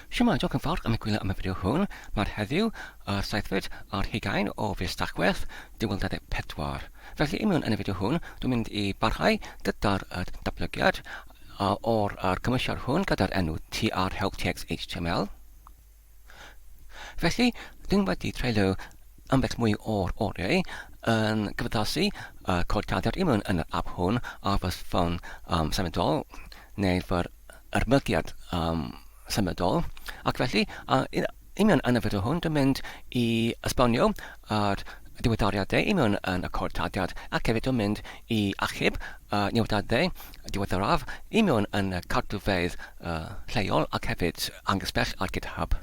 Shwmae, diolch yn fawr am y gwylio am y fideo hwn. Mae'r heddiw, yr seithfed ar hugain o fis Tachwedd 2024. Felly imiwn yn y fideo hwn, dwi'n mynd i barhau gyda'r datblygiad o'r yr cymwysiad hwn gyda'r enw TR Help TX HTML. Felly, dwi'n wedi treulio ambell mwy o'r oriau yn cyfaddasu y codiadau imiwn yn yr app hwn ar fy ffôn um, symudol neu fy yr mygiad um, symudol, ac felly, a yn union yn y fideo hwn, dwi'n mynd i esbonio yr diweddariad dde i mewn yn y cod tadiad, ac hefyd dwi'n mynd i achub y newyddiad dde diweddaraf i mewn yn y cartrfeydd uh, lleol ac hefyd angysbell ar GitHub.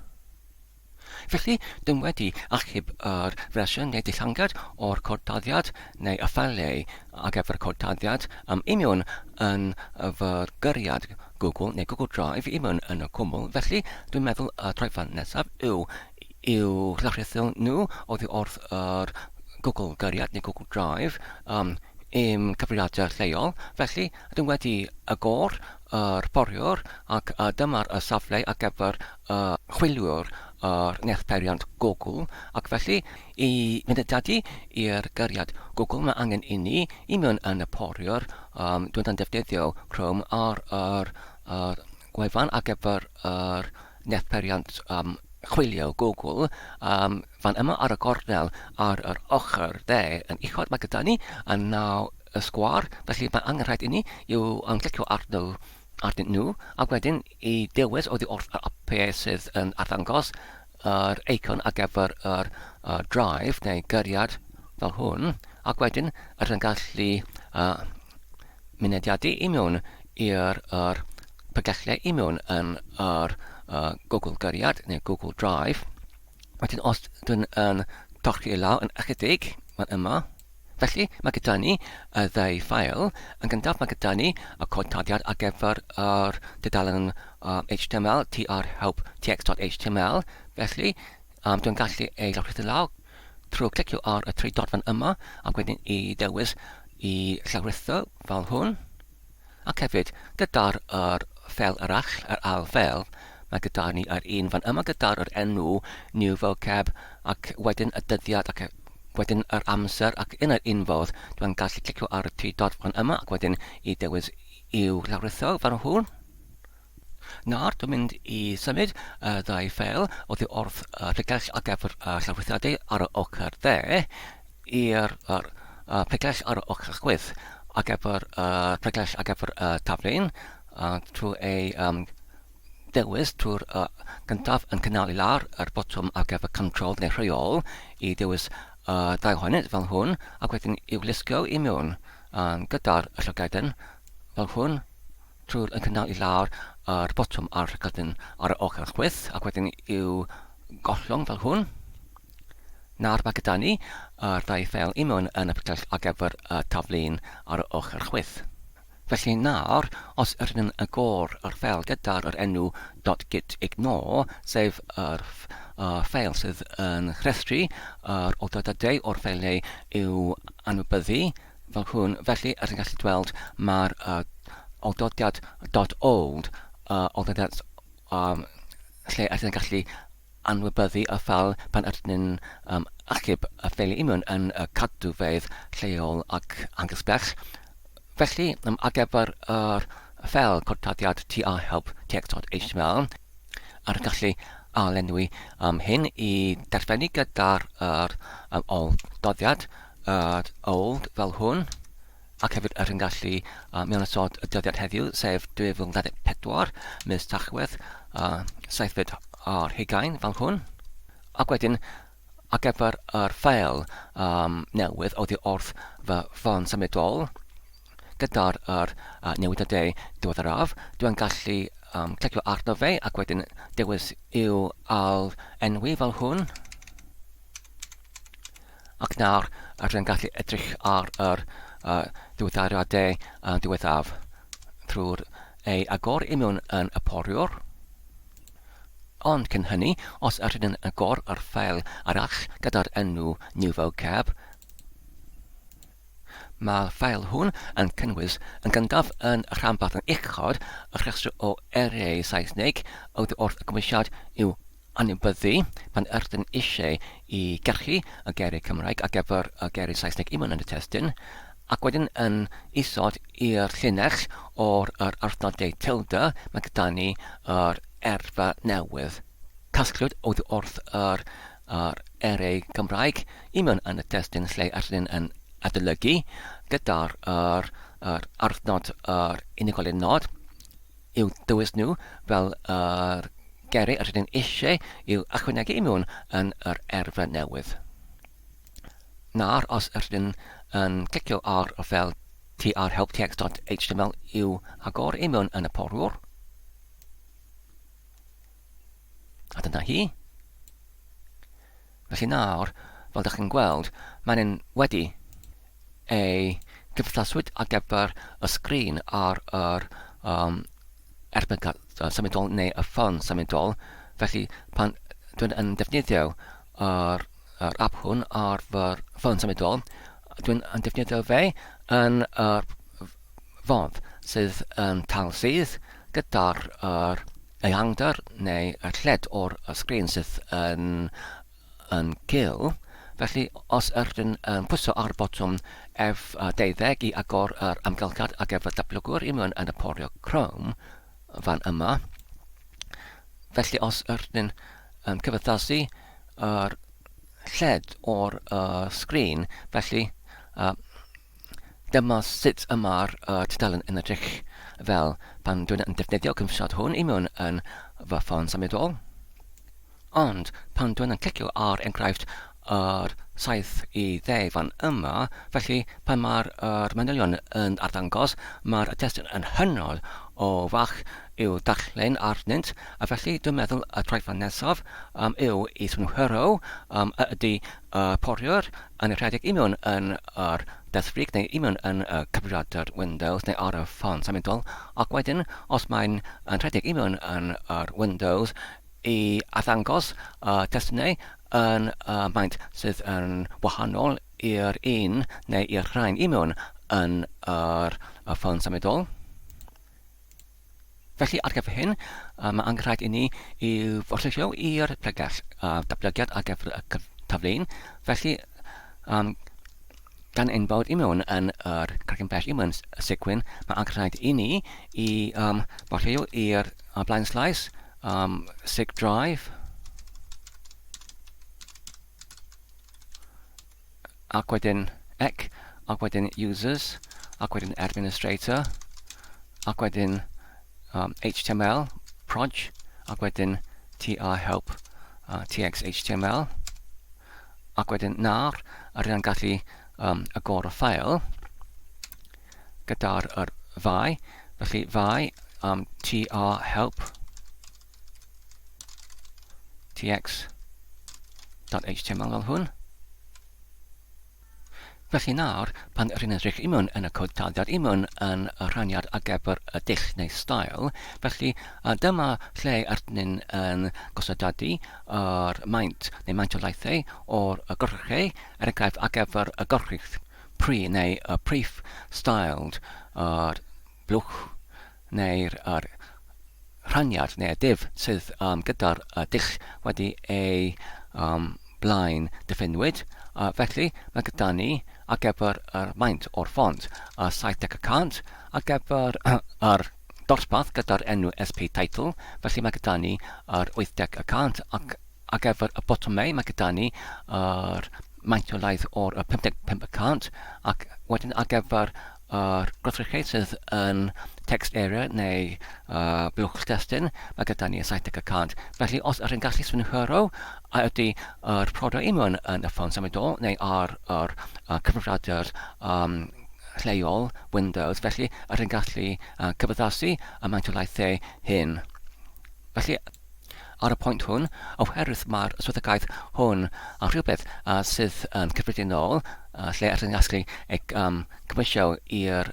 Felly, dw wedi achub yr fersiwn neu ddillangad o'r cod dyddiad neu y ffeiliau ar gyfer y cod dyddiad am imiwn yn fy gyriad Google neu Google Drive i imiwn yn y cwmwl, felly dwi'n meddwl y troedfan nesaf yw i'w llychrythu nhw oddi wrth yr Google gyriad neu Google Drive um, i'm cyfrifiadur lleol, felly dw wedi agor yr foriwr ac a dymar y safle ar gyfer y chwiliwr yr wneith peiriant Google ac felly i fynedadu i'r gariad Google mae angen inni i mewn yn y foriwr yym dwi'n ddefnyddio Chrome ar yr yr gwefan ar gyfer yr wneith peiriant yym chwilio Google yym Fan yma ar y gornel ar yr ochr dde yn uchod mae gyda ni y naw sgwâr, felly mae angen rhaid inni i'w ymglicio arnyn nhw a wedyn i dewis oddi wrth yr apiau sydd yn arddangos yr eicon ar gyfer yr drive neu gyriad fel hwn ac wedyn rydyn gallu mynediadu i mewn i'r pregethlau i mewn yn yr Google Gyriad neu Google Drive Wedyn os dwi'n yn torri lawr yn ychydig, mae'n yma. Felly, mae gyda ni y ddau ffael. Yn gyntaf, mae gyda ni y cod tarddiad ar gyfer yr dudalen HTML, tr help txt.html. Felly, dwi'n gallu ei llawrythu lawr trwy clicio ar y tri dot fan yma ac wedyn i ddewis i llawrythu fel hwn. Ac hefyd, gyda'r yr fel arall, yr ail fel, mae gyda ni yr un fan yma gyda'r yr enw new vocab, ac wedyn y dyddiad ac wedyn yr amser, ac yn yr un fodd, dwi'n gallu clicio ar y tri dot fan yma ac wedyn i dewis i'w lawritho fan hwn. Nawr, dwi'n mynd i symud y ddau ffeil oddi wrth y pregell ar gyfer y llawrythiadau ar y ochr dde i'r pregell ar y ochr chwith ar gyfer y pregell ar gyfer y taflen trwy ei dewis trwy'r gyntaf yn cynnal i lawr yr botwm ar gyfer control neu rheol i dewis y ddau ohonynt fel hwn ac wedyn i'w lusgo i mewn gyda'r llygaden fel hwn Trw'r y cynnal i lawr yr botwm a'r rhaglen ar y ochr chwith ac wedyn i'w gollwng fel hwn. Nawr mae gyda ni yr ddau ffeil i mewn yn y picell ar gyfer y taflun ar y ochr chwith. Felly nawr, os yr yn y gor yr ffeil gyda'r yr enw .git ignore, sef yr uh, ffeil sydd yn rhestru yr oedadadau o'r ffeiliau i'w anwybyddu, fel hwn, felly os chi'n gallu gweld mae'r uh, oldodiad dot old, uh, oldodiad um, lle ydyn ni'n gallu anwybyddu y ffel pan ydyn ni'n um, achub y ffeili imiwn yn y cadwfeydd lleol ac angysbell. Felly, um, ar gyfer yr ffel cortadiad TR help text.html, ar y gallu a lenwi um, hyn i darllenni gyda'r er, um, ol doddiad, at old fel hwn, ac hefyd yr hyn gallu mewn ystod y dyddiad heddiw, sef 2024, mis Tachwedd, saethfed ar hugain fel hwn. Ac wedyn, ar gyfer yr ffeil um, newydd oddi wrth fy ffon symudol, gyda'r er, uh, newidiadau diweddaraf, dwi'n gallu um, clicio arno fe ac wedyn dewis i'w al enwi fel hwn. Ac nawr, rydyn ni'n gallu edrych ar yr diweddariadau diwethaf drwy'r ei agor i mewn yn y poriwr. Ond cyn hynny, os ydyn ni'n agor ar ffeil arall gyda'r enw New Vocab, Mae'r ffael hwn yn cynnwys yn gyntaf yn y rhanbarth yn uchod y rhestr o eiriau Saesneg oddi wrth y Cymwysiad i'w anwybyddu pan ydyn eisiau i gachu y geiriau Cymraeg ar gyfer y geiriau Saesneg i mewn yn y testun, ac wedyn yn isod i'r llinell o'r yr arthnodau tilde, mae gyda ni yr erfa newydd. Casgliad oddi wrth yr yr eiriau Cymraeg i mewn yn y testun lle yr hyn yn adolygu gyda'r yr yr arthnod yr unigolyn nod, i'w dywys nhw fel yr geiriau yr ydym eisiau i'w ychwanegu i mewn yn yr erfa newydd. Nawr, os yr ydym yn clicio ar fel tr help text.html i'w agor i mewn yn y porwr, A dyna hi. Felly nawr, fel dych chi'n gweld, mae'n yn wedi ei gymhthaswyd ar gyfer y sgrin ar yr um, erbyn symudol neu y ffôn symudol. Felly pan dwi'n yn defnyddio yr, yr app hwn ar fy ffôn symudol, dwi'n yn defnyddio fe yn yr fodd sydd yn taw sydd gyda'r yr ehangder neu y lled o'r sgrin sydd yn yn gul. Felly os ydyn yn pwyso ar y botwm F12 i agor yr amgylchiad ar gyfer datblygwr i mewn yn y porio Chrome fan yma. Felly os ydyn yn cyfythasu yr lled o'r uh, sgrin, felly uh, Dyma sut y mae'r tudalen yn edrych fel pan dwi'n yn defnyddio cymsod hwn i mewn yn fy ffôn symudol. Ond pan dwi'n yn clicio ar enghraifft yr 70 fan yma, felly pan mae'r er manylion yn arddangos, mae'r testun yn hynod o fach i'w darllen arnynt, a felly dwi'n meddwl y traethau nesaf um, yw i synhwyro um, a ydy a porio'r anrhydedd i mewn yn yr deddfwriaeth neu i mewn yn y cyfrifiadur Windows neu ar y ffon symudol, ac wedyn, os mae'n anrhydedig i mewn yn yr Windows, i arddangos y testunau yn y maint sydd yn wahanol i'r un neu i'r rhain i mewn yn yr ffon symudol. Felly, ar gyfer hyn, mae angen rhaid i ni i orllewio i'r pregeth, datblygiad ar gyfer y tafleun. Felly, um, gan ein bod i mewn yn yr cregyn bell i mewn y segwyn, mae angen rhaid i ni i um, orllewio i'r blaen slais, um, sig drive, ac wedyn ec, ac wedyn users, ac wedyn administrator, ac wedyn um, html, proj, ac wedyn tr help, uh, tx html, ac wedyn nar, a rydyn gallu um, agor y ffael gyda'r yr fai, felly fai um, tr help, tx.html fel hwn. Felly nawr, pan rydyn edrych i mewn yn y cod taliad i mewn yn y rhaniad ar gyfer y dull neu stael, felly dyma lle rydyn ni'n yn gosodadu yr maint neu maint o laethau o'r gorchei, er enghraifft ar gyfer y gorchudd, pri neu y prif styled yr blwch neu'r yr rhaniad neu'r dull sydd yym gyda'r yy dull wedi ei yym blaen diffiniwyd, a felly mae gyda ni ar gyfer yr maint o'r ffont a 70 y cant ar gyfer yr dosbarth gyda'r enw SP Title, felly mae gyda ni yr 80 y cant ac ar gyfer y botymau mae gyda ni yr maint o laeth o'r 55 y cant ac wedyn ar gyfer Ar Gweithredu sydd yn text area neu buwch destun, mae gyda ni 70 y cant. Felly os ydych chi'n gallu synhwyro a ydy yr prodau union yn y ffon symudol neu ar yr cyfrifiadur lleol Windows, felly ydych chi'n gallu cyfaddasu y maint o laethau hyn. Felly, Ar y pwynt hwn, oherwydd mae'r swyddogaeth hwn yn rhywbeth sydd yn cyffredinol, lle rydyn ni'n gallu ei gymeisio i'r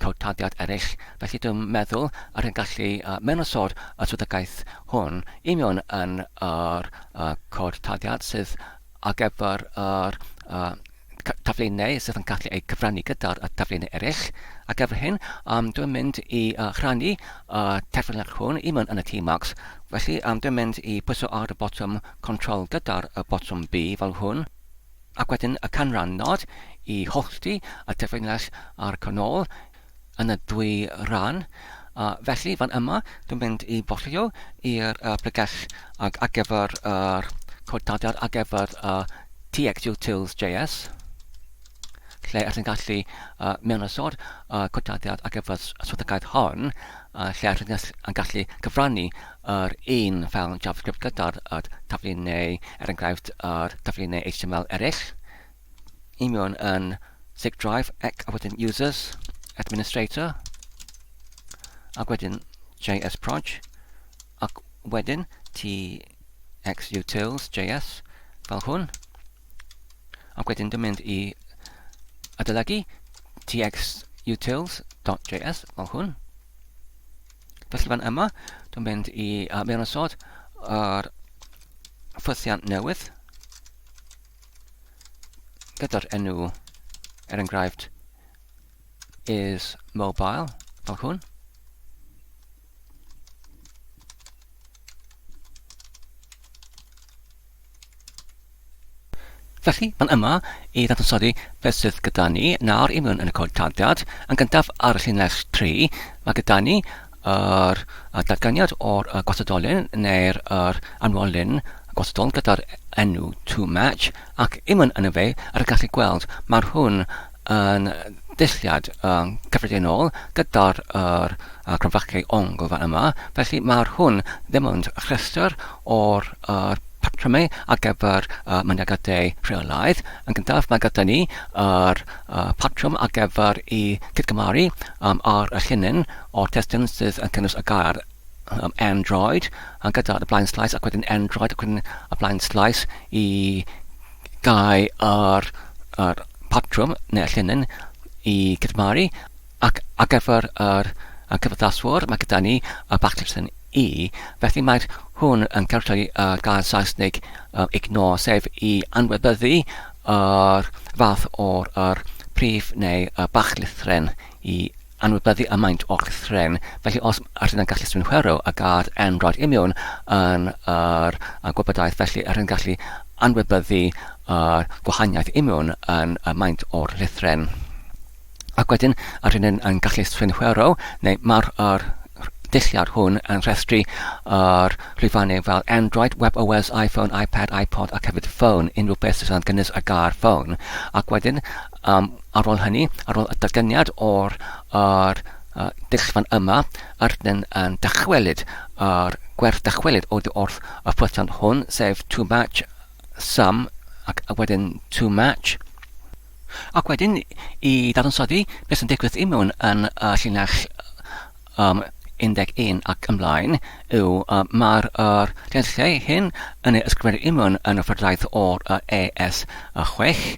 cawtadiad eraill, felly dwi'n meddwl a rydyn ni'n gallu mewnwsod y swyddogaeth hwn i mewn yn yr cawtadiad sydd ar gyfer yr taflenni sydd yn gallu eu cyfrannu gyda'r taflenni eraill. Ar gyfer hyn, um, dwi'n mynd i uh, rhannu y terfynach hwn i mewn yn y Tmags. Felly, um, dwi'n mynd i pwyso ar y botwm Control gyda'r y botwm B fel hwn, ac wedyn y canran nod i hollti y terfynach a'r canol. yn y dwy ran, a felly fan yma dwi'n mynd i fwllio i'r uh, pregell ag ar gyfer yr codadad ar gyfer uh, txutils.js lle allwn gallu uh, mewn ysod uh, codadiad ar gyfer y swyddogaeth hon, uh, lle allwn yn gallu cyfrannu yr un fel JavaScript gyda'r uh, taflu neu, er enghraifft, yr taflu neu HTML eraill. i mewn yn Zig Drive ac a wedyn Users, Administrator, ac wedyn JS Proj, ac wedyn TX Utils JS fel hwn, ac wedyn dwi'n mynd i adolygu TX Utils.js fel hwn. Felly fan yma, dwi'n mynd i uh, mewn ysod yr ffythiant newydd, gyda'r enw, er enghraifft, is mobile, fel hwn. Felly, mae'n yma i ddadansoddi beth sydd gyda ni nawr i mewn yn y cod tarddiad. Yn gyntaf ar y llinell 3, mae gyda ni yr datganiad o'r gwastadolen neu'r yr anwolyn gwastadol gyda'r enw to match ac imwn yn y fe ar y gallu gweld mae'r hwn yn ddulliad um, cyffredinol gyda'r yr uh, cromfachiau ongl fan yma felly mae'r hwn ddim ond rhestr o'r yr patrymau ar gyfer uh, mynagadau rheolaidd. Yn gyntaf, mae gyda ni yr uh, patrwm ar gyfer i cydgymaru um, ar y llinyn o'r testun sydd yn cynnwys y gair um, Android, a gyda y blaen slais ac wedyn Android ac wedyn y blaen slais i gael yr, yr patrwm neu'r llinyn i gydmaru ac ar gyfer yr y cyfathaswr mae gyda ni y backslash yn i. Felly mae hwn yn cartrefu y gair Saesneg um, ignore, sef i anwybyddu yr fath o'r yr prif neu y bachlithren i anwybyddu y maint o'ch thren, felly os ydyn yn gallu symud chwerw a gad Android Immune yn yr gwybodaeth felly ydyn yn gallu anwybyddu yr gwahaniaeth Immune yn y maint o'r llythren. Ac wedyn ydyn yn, yn gallu symud chwerw neu mae'r yr dulliad hwn yn rhestru yr rhifannau fel Android, WebOS, iPhone, iPad, iPod ac hefyd ffôn, unrhyw beth sydd yn gynnes ar gael ffôn. Ac wedyn Yym, ar ôl hynny, ar ôl y datganiad o'r yr yy dull-span yma, rydym yn dychwelyd yr gwerth dychwelyd oddi wrth y ffwythiant hwn, sef to match sum ac a wedyn to match. Ac wedyn, i ddadansoddi beth sy'n digwydd i mewn yn y llinell um, 11 ac ymlaen yw uh, mae'r er, llenllau hyn yn ei ysgrifennu i mewn yn y ffyrdraeth o'r uh, ES6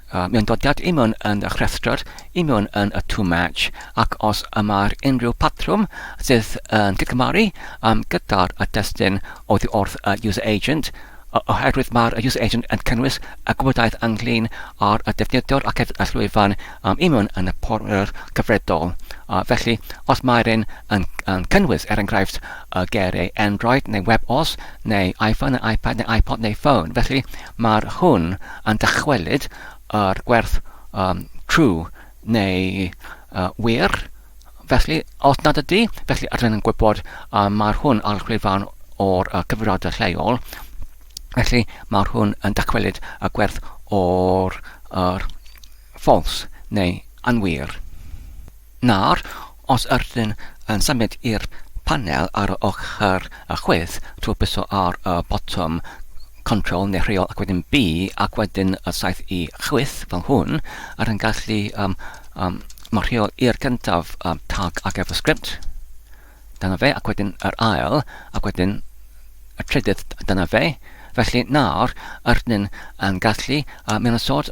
A mae'n dod at i mewn yn y rhestr, i mewn yn y to match, ac os y mae'r unrhyw patrwm sydd yn cydgymaru um, gyda'r y destun oddi wrth y user agent, oherwydd mae'r y user agent yn cynnwys y gwybodaeth ynglyn â'r y defnyddwr ac hefyd y llwyfan um, i mewn yn y portffolio'r cyfredol. A felly, os mae'r un yn, yn cynnwys, er enghraifft, y ger ei Android neu WebOS neu iPhone neu iPad neu iPod neu ffôn, felly Mae hwn yn dychwelyd i'r gwerth true neu wir, felly os nad ydy, felly rydyn yn gwybod mae hwn ar llwyfan o'r cyfrifoldeb lleol, felly mae hwn yn dychwelyd y gwerth o'r false neu anwir. Nawr, Os ydyn yn symud i'r panel ar yr ochr chwith, trwy byso ar y botwm Control neu Rheol ac wedyn B ac wedyn y saeth i chwith, fel hwn, ydyn gallu marcio i'r gyntaf Tag ar gyfer Sgript, dyna fe, ac wedyn yr ail, ac wedyn y trydydd, dyna fe. Felly nawr ydyn yn gallu mynd yn sort.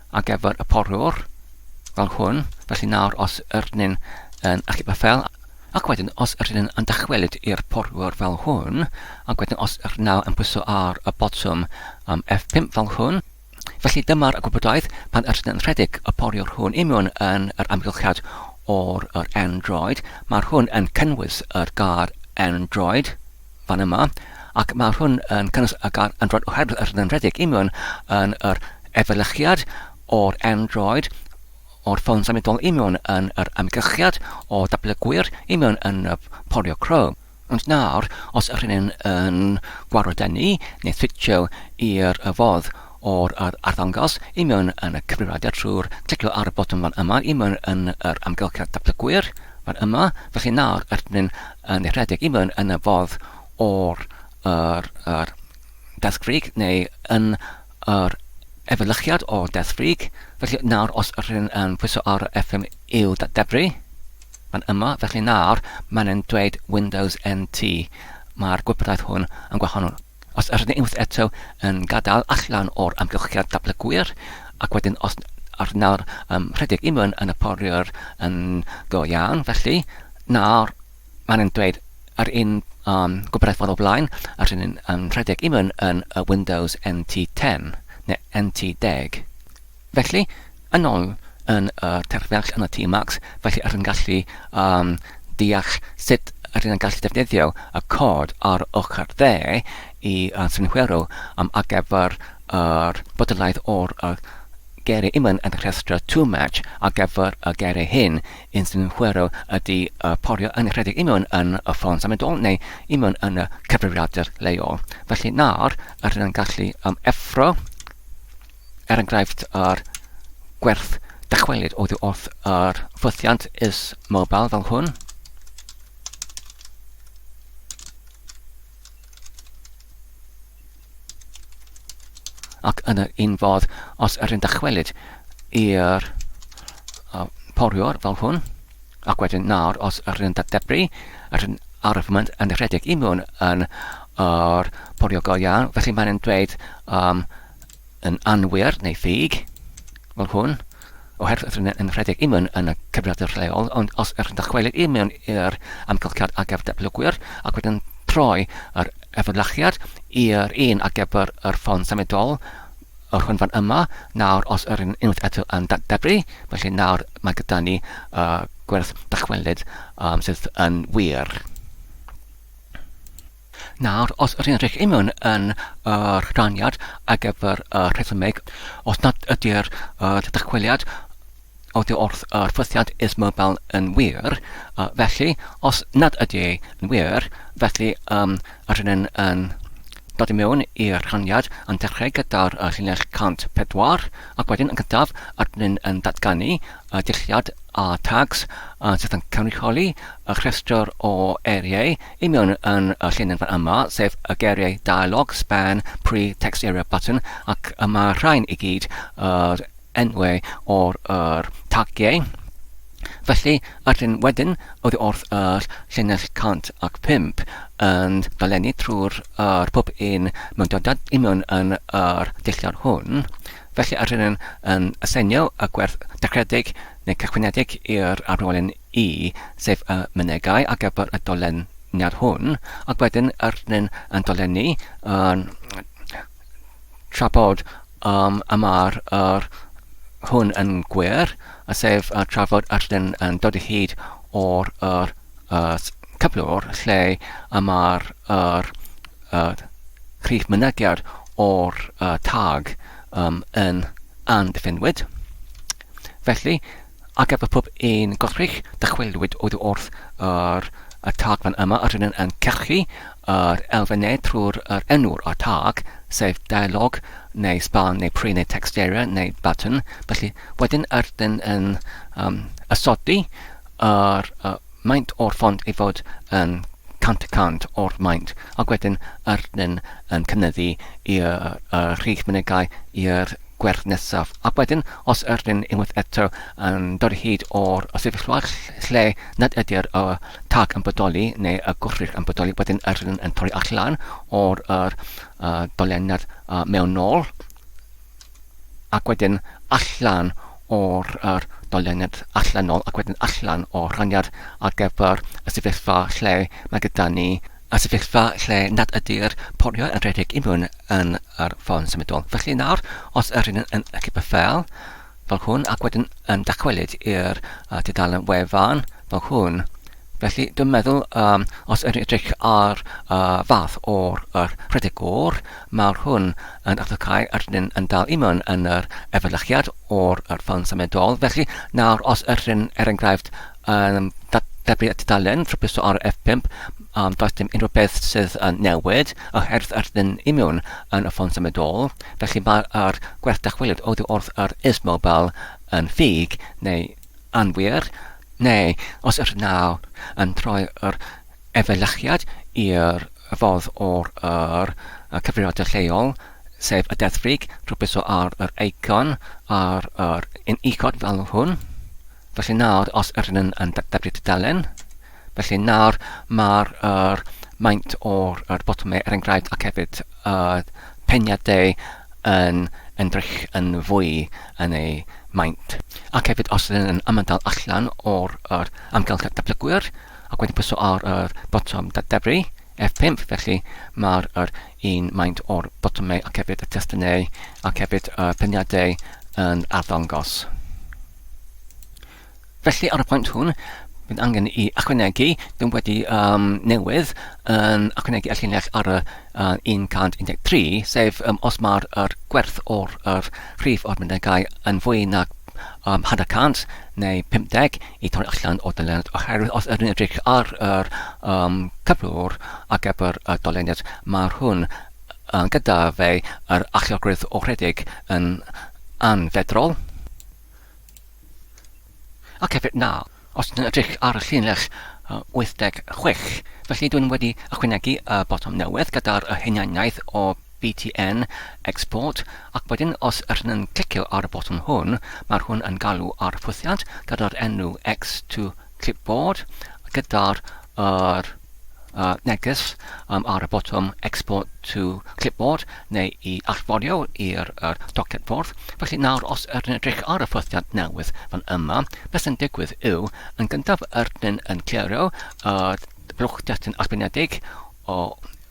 ar gyfer y porwr fel hwn, felly nawr os yr ni'n yn achub y fel, ac wedyn os yr ni'n yn dychwelyd i'r porwr fel hwn, ac wedyn os yr naw yn pwyso ar y botwm um, F5 fel hwn, felly dyma'r gwybodaeth pan yr ni'n rhedeg y porwr hwn i mewn yn yr amgylchiad o'r yr Android. Mae'r hwn yn cynnwys yr gair Android, fan yma, ac mae hwn yn cynnwys y gair Android oherwydd yr ddynredig union yn yr efelychiad o'r Android o'r ffôn symudol union yn yr amgylchiad o dablygwyr union yn y porio Chrome. Ond nawr, os yr hynny'n yn gwarod â ni, neu switio i'r fodd o'r arddangos union yn y cyfrifiadur trwy'r clicio ar y botwm fan yma union yn yr amgylchiad dablygwyr fan yma, felly nawr yr hynny'n yn rhedeg i mewn yn y fodd o'r yr yr death freak neu yn yr efelychiad o'r death freak. Felly nawr os yr hyn yn pwyso ar y FM i'w datdebru, fan yma, felly nawr mae'n yn dweud Windows NT. Mae'r gwybodaeth hwn yn gwahanol. Os ydyn ni unwaith eto yn gadael allan o'r amgylchiad datblygwyr, ac wedyn os ar nawr um, rhedeg unwaith yn y poriwr yn go iawn, felly nawr maen nhw'n dweud yr un um, gwybodau ffordd o blaen, a rhywun yn um, rhedeg unwaith yn y Windows NT10 neu NT10. Felly, yn ôl yn y terfyngs yn y tŷ Max, felly yr yn gallu um, deall sut yr yn gallu defnyddio y cod ar ochr dde i uh, synhwyro um, ar gyfer yr bodolaeth o'r uh, geiriau imwn yn y rhestr too much ar gyfer y geiriau hyn yn synhwyro ydy uh, porio yn rhedeg imwn yn y ffôn symudol neu imwn yn y cyfrifiadur leol. Felly nawr, yr yn gallu um, effro er enghraifft ar gwerth dychwelyd oddi wrth yr ffwythiant is mobile fel hwn. Ac yn yr un fodd, os yr un dychwelyd i'r uh, poriwr fel hwn, ac wedyn nawr os yr un dadebru, yr un arfmynd yn rhedeg i mewn yn yr poriwr go iawn, felly mae'n dweud um, yn anwir neu ffug, fel hwn, oherwydd rydyn yn rhedeg imwn yn y cyfrifiadur lleol, ond os ydych yn dychwelyd i mewn i'r amgylchiad ar gyfer datblygwyr ac wedyn troi yr efelychiad i'r un ar gyfer yr ffon symudol, yr hwn fan yma, nawr os yr un unwaith eto yn datblygu, felly nawr mae gyda ni uh, gwerth dychwelyd um, sydd yn wir. Nawr, os rydyn rhech imiwn yn yr rhaniad ar gyfer y rhesymeg, os nad ydy'r dychweliad oddi wrth yr ffythiant is mobile yn wir, felly, os nad ydy yn wir, felly um, rydyn yn dod i mewn i'r rhaniad yn dechrau gyda'r uh, llinell 104 ac wedyn yn gyntaf rydyn yn datganu a dulliau a tags a sydd yn cynrychioli y rhestr o eiriau union yn y llinynfa yma, sef y geiriau dialog, span, pre, text area, button, ac y mae'r rhain i gyd yr enwau o'r yr tagiau. Felly, yr hyn wedyn oedd wrth yr llinell 105 yn dolenni trwy'r yr pob un mewn dydad union yn yr dulliau hwn, Felly yr rydym yn aseinio y gwerth dechreuedig neu cychwyniedig i'r arwrolyn E, sef y mynegai ar gyfer y doleniad hwn, ac wedyn yr rydym yn dolennu yn tra bod um, y mae'r yr hwn yn gwir, sef tra fod yr rydym yn dod o hyd o'r yr at gyflwr lle y mae'r yr yr rhif mynegiad o'r uh, tag um, yn anddiffynwyd. Felly, ac efo pob un gorchrych, dychwelwyd oedd wrth yr y tag fan yma, a rydyn yn cachu yr elfennau trwy'r er enw'r a tag, sef dialog, neu span, neu pre, neu text area, neu button. Felly, wedyn, rydyn yn um, ysodi a'r uh, maint o'r ffont ei fod yn cant y cant o'r maint, ac wedyn yr yn, yn cynyddu i'r uh, rhif mynegau i'r gwerth nesaf. Ac wedyn, os yr yn unwaith eto yn dod o hyd o'r sefyllfa lle nad ydy'r uh, tag yn bodoli neu y gwrthrych yn bodoli, wedyn yr yn, yn torri allan o'r uh, dolen nad uh, mewn nôl, ac wedyn allan o'r yr dolyniad allanol ac wedyn allan o'r rhaniad ar gyfer y sefyllfa lle mae gyda ni y sefyllfa lle nad ydy'r poriau yn rhedeg i mewn yn yr ffôn symudol. Felly nawr, os yr hyn yn y cybyffel, fel hwn, ac wedyn yn dychwelyd i'r uh, tudalen wefan, fel hwn, Felly, dwi'n meddwl, um, os yr edrych ar uh, fath o'r er, rhedeg o'r, mae'r hwn yn adlocau yr hyn yn dal i mewn yn yr efelychiad o'r er ffôn symudol. Felly, nawr, os yr hyn, er enghraifft, um, debyg at dalen ffrybuso ar F5, um, does dim unrhyw beth sydd yn newid oherwydd yr hyn i mewn yn y ffôn symudol. Felly, mae'r gwerth dychwelyd oddi wrth yr is mobile yn ffug neu anwir, neu os yr naw yn troi yr efelychiad i'r ffordd o'r yr cyfrifiadur lleol, sef y deddf rig, rhwbwyso ar yr eicon ar yr un uchod fel hwn. Felly nawr, os yr ydyn yn darparu tudalen, Felly nawr mae'r er maint o'r er botymau er enghraifft ac hefyd uh, peniadau yn ymdrech yn fwy yn ei maint. Ac hefyd os ydyn yn ymadael allan o'r er amgylchedd datblygwyr ac wedi pwyso ar yr er botwm dadefru F5 felly mae'r er un maint o'r botymau ac hefyd y testunau ac hefyd y peniadau yn arddangos. Felly, ar y pwynt hwn, bydd angen i ychwanegu, dyn wedi um, newydd yn ychwanegu y llinell ar y uh, 113, sef um, os mae'r er gwerth o'r er rhif o'r mynegai yn fwy nag um, hanner cant neu 50 i torri allan o dyluniad oherwydd os ydyn edrych ar yr um, cyflwr ar gyfer y dyluniad mae hwn uh, gyda fe yr allogrwydd o rhedeg yn anfedrol. Ac hefyd na, os ydyn ni'n edrych ar y llinell 86, felly dwi wedi ychwanegu y botwm newydd gyda'r hunaniaeth o BTN Export, ac wedyn os ydyn ni'n clicio ar y botwm hwn, mae hwn yn galw ar ffwythiant gyda'r enw X to Clipboard gyda'r yr neges um ar y botwm Export to Clipboard neu i allforio i'r yr doced ffordd. Felly nawr os ydyn edrych ar y ffythiant newydd fan yma, beth sy'n digwydd yw, yn gyntaf ydyn yn clirio y blwch destun arbenedig o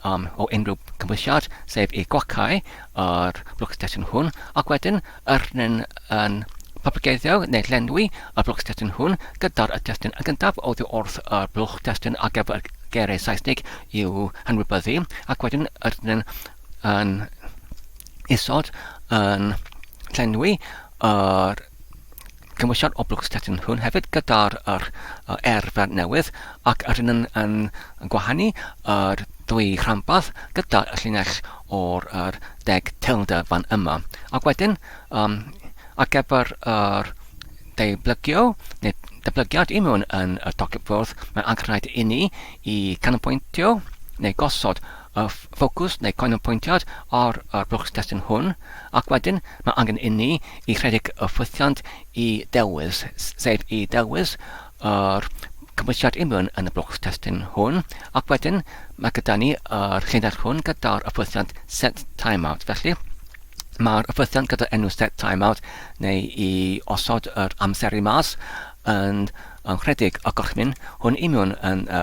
am o unrhyw gymwysiad, sef y gwacau a'r blwcstesyn hwn, ac wedyn yr nyn yn papageiddio neu llenwi y blwcstesyn hwn gyda'r y testyn yn gyntaf oddi wrth y blwcstesyn ar gyfer y geiriau Saesnig i'w hanwybyddu, ac wedyn yr nyn yn isod yn llenwi yr Cymwysiad o Blwch Stettin hwn hefyd gyda'r yr, uh, erfer newydd ac yr hyn yn, yn, yn gwahanu yr ddwy rhanbarth gyda'r llinell o'r yr deg teilder fan yma. Ac wedyn, um, ar gyfer yr deiblygio neu deblygiad i mewn yn y tocyn ffwrdd, mae'n angenrhaid i ni i canolbwyntio neu gosod y ffocws neu canolbwyntiad ar y blwchstestun hwn, ac wedyn mae angen inni i rhedeg y ffwythiant i ddewis, sef i ddewis yr cymwysiad union yn y blwchstestun hwn, ac wedyn mae gyda ni yr llinell hwn gyda'r ffwythiant set timeout. Felly, mae'r ffwythiant gyda'r enw set timeout neu i osod yr amseru mas yn, yn rhedeg y gorchmyn hwn union yn y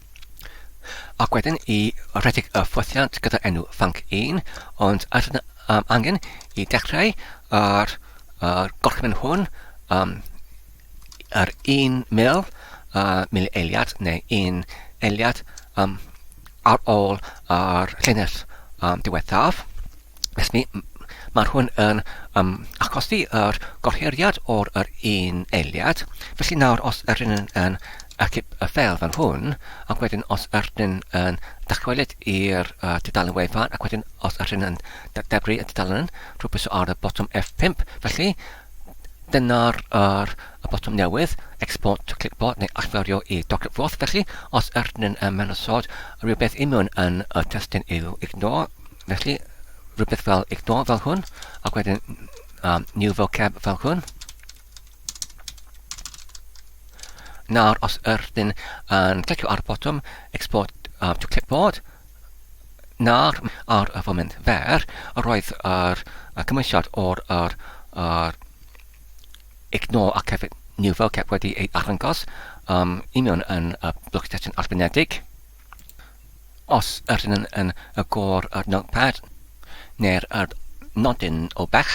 Ac wedyn i redeg y ffothiant gyda enw Fanc 1, ond ar yna um, angen i dechrau ar yr gorchymyn hwn um, yr un mil, uh, mil eiliad neu un eiliad um, ar ôl yr llinell um, diwethaf. Felly, mae hwn yn um, achosi yr gohiriad o'r yr un eiliad. Felly nawr, os yr un yn, yn acip y ffeil fan hwn, ac wedyn os yr un yn dychwelyd i'r uh, dudalen wefan, ac wedyn os yr un yn debru y dudalen, rwy'n pwyso ar y botwm F5. Felly, dyna'r er, y botwm newydd, export to clipboard neu allferio i doclet foth. Felly, os yr un yn mewn ysod, rhywbeth i mewn yn y testyn yw ignore, Felly, rhywbeth fel ignore fel hwn, ac wedyn um, new vocab fel hwn. Nawr, os ydyn yn clicio ar y botwm export uh, to clipboard, nawr ar y foment fer, roedd yr uh, cymwysiad o'r yr, yr ignore ac hefyd new vocab wedi ei arddangos um, i mewn yn y uh, blwch testyn arbenedig. Os ydyn yn yn y gor yr notepad neu'r yr nodyn o bell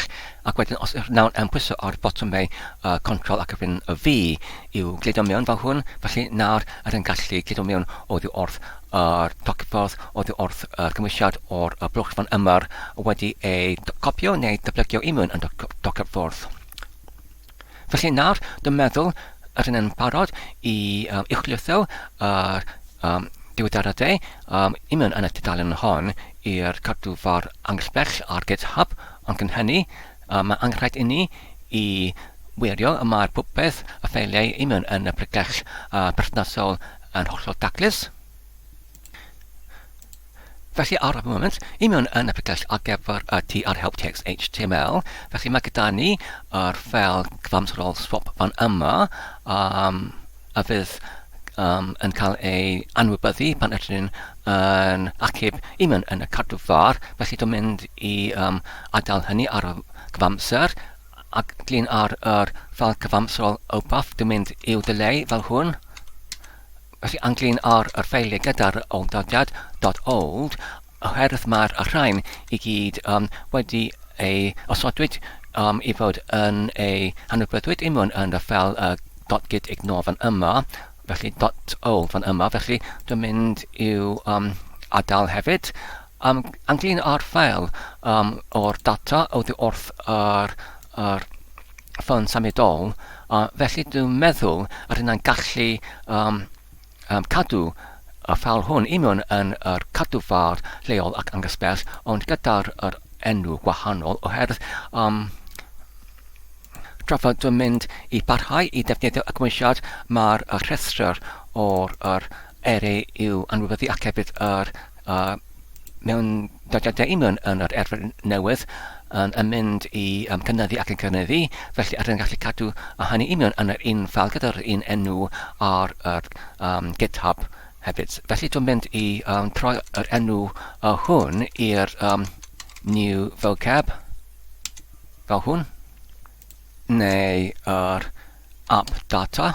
ac wedyn os ydyn nawr yn pwyso ar botymau uh, control ac wedyn y fi i'w gludo mewn fel hwn felly nawr ydyn gallu gludo mewn oddi wrth yr docffordd oddi wrth yr cymwysiad o'r y blwch fan yma wedi ei copio neu dyblegio i mewn yn docffordd. Felly nawr, dwi'n meddwl yr hyn yn parod i um, uwchlithio yr um, diwyddaradau um, i mewn yn y tudalen hon i'r cadwfor angellbell ar GitHub, ond cyn hynny, um, mae angenrhaid i ni i wirio y mae'r popeth y ffeiliau i mewn yn y pregell uh, perthnasol yn hollol daclus. Felly ar y foment, i mewn yn y pregell ar gyfer y tu ar help text HTML. Felly mae gyda ni yr ffel cyfamserol swap fan yma um, a fydd um, yn cael ei anwybyddu pan ydyn ni'n yn achub i mewn yn y cadw far. Felly dwi'n mynd i um, adael hynny ar y cyfamser ac glin ar yr ffel cyfamserol opaff. Dwi'n mynd i'w delay fel hwn. Felly anghlyn ar yr ffeiliau gyda'r awdurdod dot old oherwydd mae'r rhain i gyd um, wedi ei osodwyd um, i fod yn ei hanwybydwyd i mewn yn y ffel uh, dot git ignore fan yma, felly dot old fan yma, felly dwi'n mynd i'w um, adael hefyd. Am anglyn ar ffeil um, o'r data oddi wrth yr, yr ffôn symudol, uh, felly dwi'n meddwl yr hynna'n gallu um, um, cadw y ffeil hwn union yn yr cadwfar lleol ac angysbell, ond gyda'r yr enw gwahanol oherwydd um, tra fod dwi'n mynd i barhau i ddefnyddio y gymwysiad, mae'r rhestr o'r yr eri i'w anwybyddu ac hefyd yr A mewn dyddiadau i mewn yn yr erfyr newydd yn yn mynd i um, cynyddu ac yn cynyddu, felly rydyn yn gallu cadw a hynny i mewn yn yr un ffael gyda'r un enw ar yr um, GitHub hefyd. Felly dwi'n mynd i um, troi yr enw uh, hwn i'r um, new vocab fel hwn, neu yr app data,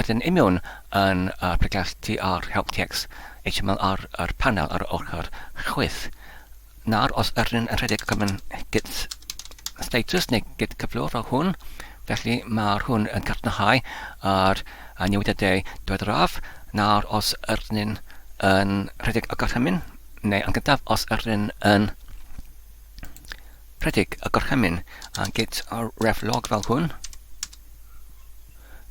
Ydyn union yn y pregeth TR Help Text HTML ar yr panel ar ochr chwith, nawr os ydyn yn rhedeg comin git status neu git cyflwr o hwn, felly mae'r hwn yn cadarnhau ar y newidiadau diweddaraf, nawr os ydyn yn rhedeg y gorchymyn, neu yn gyntaf os ydyn yn rhedeg y gorchymyn, a git reflog fel hwn.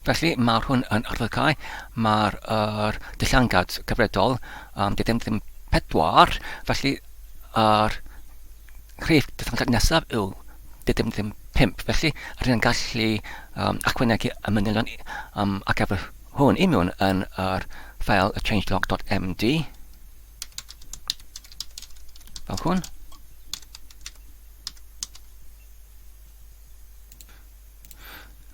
Felly, mae'r hwn yn arddygau, mae'r er, dillangad cyfredol, um, dydym ddim pedwar, felly yr rhif dillangad nesaf yw dydym ddim pimp. Felly, rydyn yn gallu um, achwynegu y manylion um, ac efo hwn i mewn yn yr ffeil changelog.md. Fel hwn.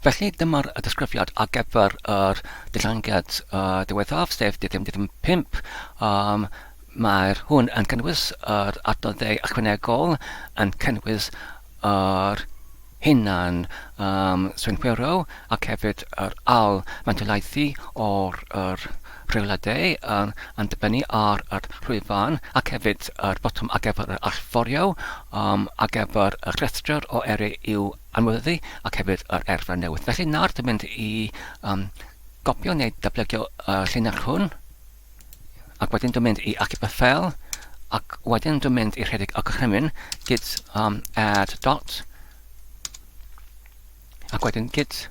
Felly dyma'r disgrifiad ar gyfer yr diddangiad uh, diwethaf, sef dyddium dyddium 5. Um, Mae'r hwn yn cynnwys yr adnoddau ychwanegol, yn cynnwys yr hunan um, swynhwyro ac hefyd yr al mantolaethu o'r yr rheoladau um, yn dibynnu ar yr llwyfan ac hefyd yr botwm ar gyfer yr allforio um, ar gyfer y rhestr o eri i'w anweddu ac hefyd yr erfa newydd. Felly nawr dwi'n mynd i um, gopio neu datblygio y llinell hwn ac wedyn dwi'n mynd i achub y ffel ac wedyn dwi'n mynd i rhedeg y gorchymyn gyd um, add dot ac wedyn gyd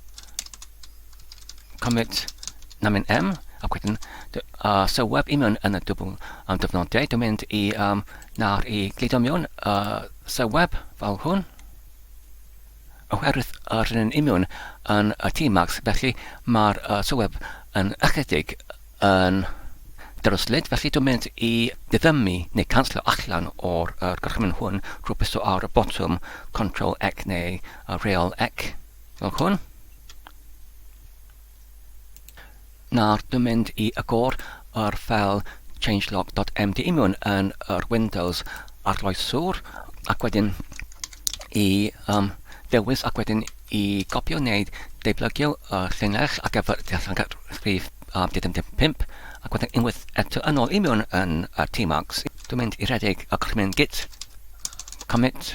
commit namin m ac wedyn uh, sylweb i mewn yn y dwbl um, dyfnodau. Dwi'n mynd i um, nawr i glido mewn uh, sylweb fel hwn Oherwydd yr hyn yn union yn y T Max felly mae'r uh, sylweb yn ychydig yn dryslyd felly dwi'n mynd i ddiddymu neu canslo allan o'r uh, gorchymyn hwn drwy byso ar y botwm Ctrl X neu uh, Real X fel hwn. Nawr dwi'n mynd i agor yr ffeil changelog.mdimiwn yn yr Windows arloeswr ac wedyn i um, ddewis ac wedyn i gopio neu deiblygio y llinell ac efo'r dethangad rhif um, 75 ac wedyn unwaith eto yn ôl i mewn yn y T-Marks. Dwi'n mynd i redeg y comin git, commit,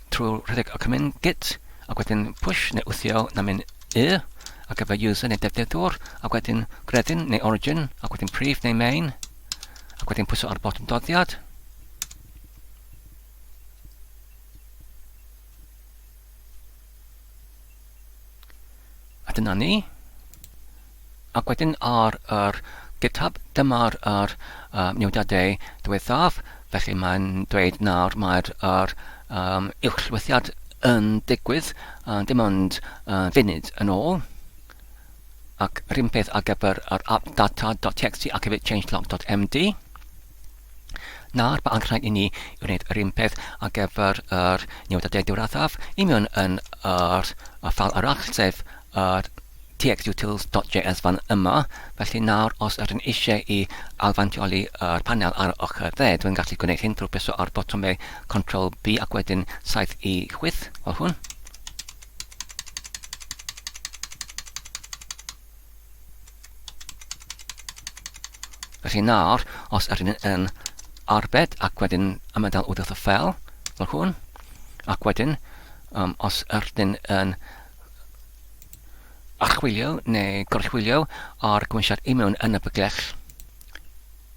trwy rhedeg Alchemyn git ac wedyn push neu wthio na min y ar gyfer user neu defnyddwr ac wedyn gredyn neu origin ac wedyn prif neu main ac wedyn pwyso ar botwm doddiad A dyna ni. Ac wedyn ar yr GitHub, dyma'r er, uh, newidiadau diwethaf, felly mae'n dweud nawr mae'r er, um, uwchlwythiad yn digwydd, uh, dim ond uh, funud yn ôl. Ac rhywun peth ar gyfer yr app data.txt ac hefyd changelog.md. Nawr, mae angen rhaid i ni wneud yr un peth ar gyfer yr newidiadau diwrathaf i mewn yn yr ffal arall, sef yr txutils.js fan yma. Felly nawr, os ydyn eisiau i alfantioli yr panel ar y ochr dde, dwi'n gallu gwneud hyn drwy bwyso ar botomau Control B ac wedyn 7 i 8, fel hwn. Felly nawr, os ydyn ni yn arbed ac wedyn ymadael wrth y ffel, fel hwn, ac wedyn, um, os ydyn ni yn archwilio neu gorchwilio ar gwmisiad i mewn yn y byglell,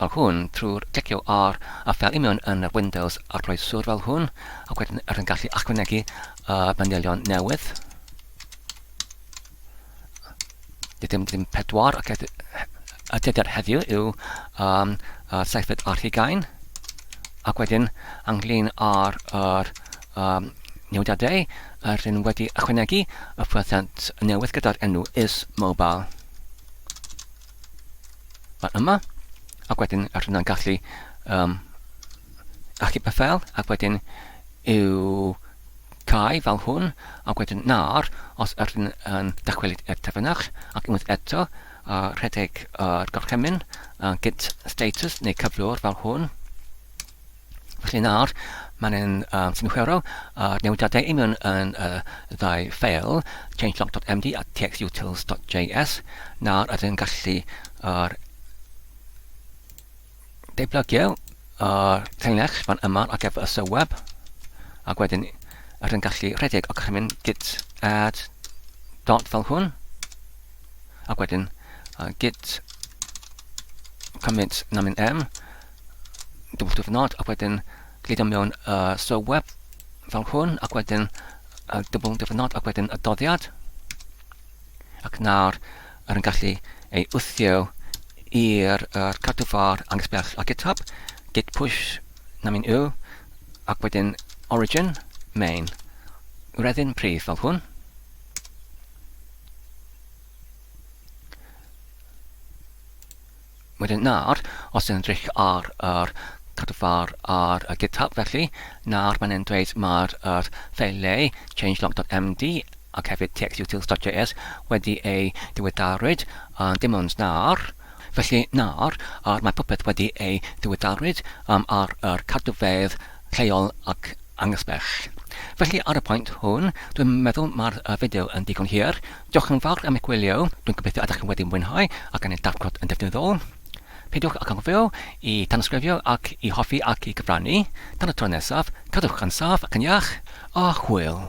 fel hwn trwy'r clicio ar y ffeil union yn yr Windows arloeswr fel hwn, ac wedyn rydyn gallu ychwanegu y manylion newydd. Dim, dim pedwar, ac y dyddiad heddiw yw um, uh, seithfed ar hugain, ac wedyn ynglyn â'r er, um, newidiadau, rydyn wedi ychwanegu y ffwythiant newydd gyda'r enw is mobile. Mae yma, ac wedyn rydyn nhw'n gallu um, achub y ffel, ac wedyn i'w cau fel hwn, ac wedyn nawr, os rydyn yn dychwelyd i'r terfynach, ac unwaith eto, uh, rhedeg yr uh, gorchymyn, uh, git status neu cyflwr fel hwn, Felly nawr, mae'n yn um, synhwyrol a'r uh, newidiadau i mewn yn y uh, ddau ffeil, changelog.md a txutils.js. Nawr ydyn ni'n gallu ar deiblogio ar teilnex fan yma ar gyfer y sylweb, ac wedyn ydyn ni'n gallu rhedeg ac chi'n mynd git add dot fel hwn, ac wedyn uh, git commit namin m, double diwrnod ac wedyn gludo mewn uh, so web fel hwn ac wedyn uh, double diwrnod ac wedyn y doddiad ac nawr yr yn gallu ei wthio i'r er cadw far angos bell a github git push na mi'n yw ac wedyn origin main reddyn prif fel hwn Wedyn nawr, os yn edrych ar yr cadwfar ar y GitHub felly, nawr mae'n e'n dweud mae'r yr ffeiliau changelog.md ac hefyd txutils.js wedi ei diweddarwyd, uh, dim ond nawr. Felly nawr, uh, mae popeth wedi ei diweddarwyd um, ar yr cadwfedd lleol ac angysbell. Felly ar y pwynt hwn, dwi'n meddwl mae'r uh, fideo yn digon hir, Diolch yn fawr am eich gwylio, dwi'n gobeithio ydych chi wedi mwynhau a gan ei darglod yn ddefnyddiol. Peidiwch ag anghofio i tanysgrifio ac i hoffi ac i gyfrannu. Tan y tro nesaf, cadwch yn saff ac yn iach, a hwyl!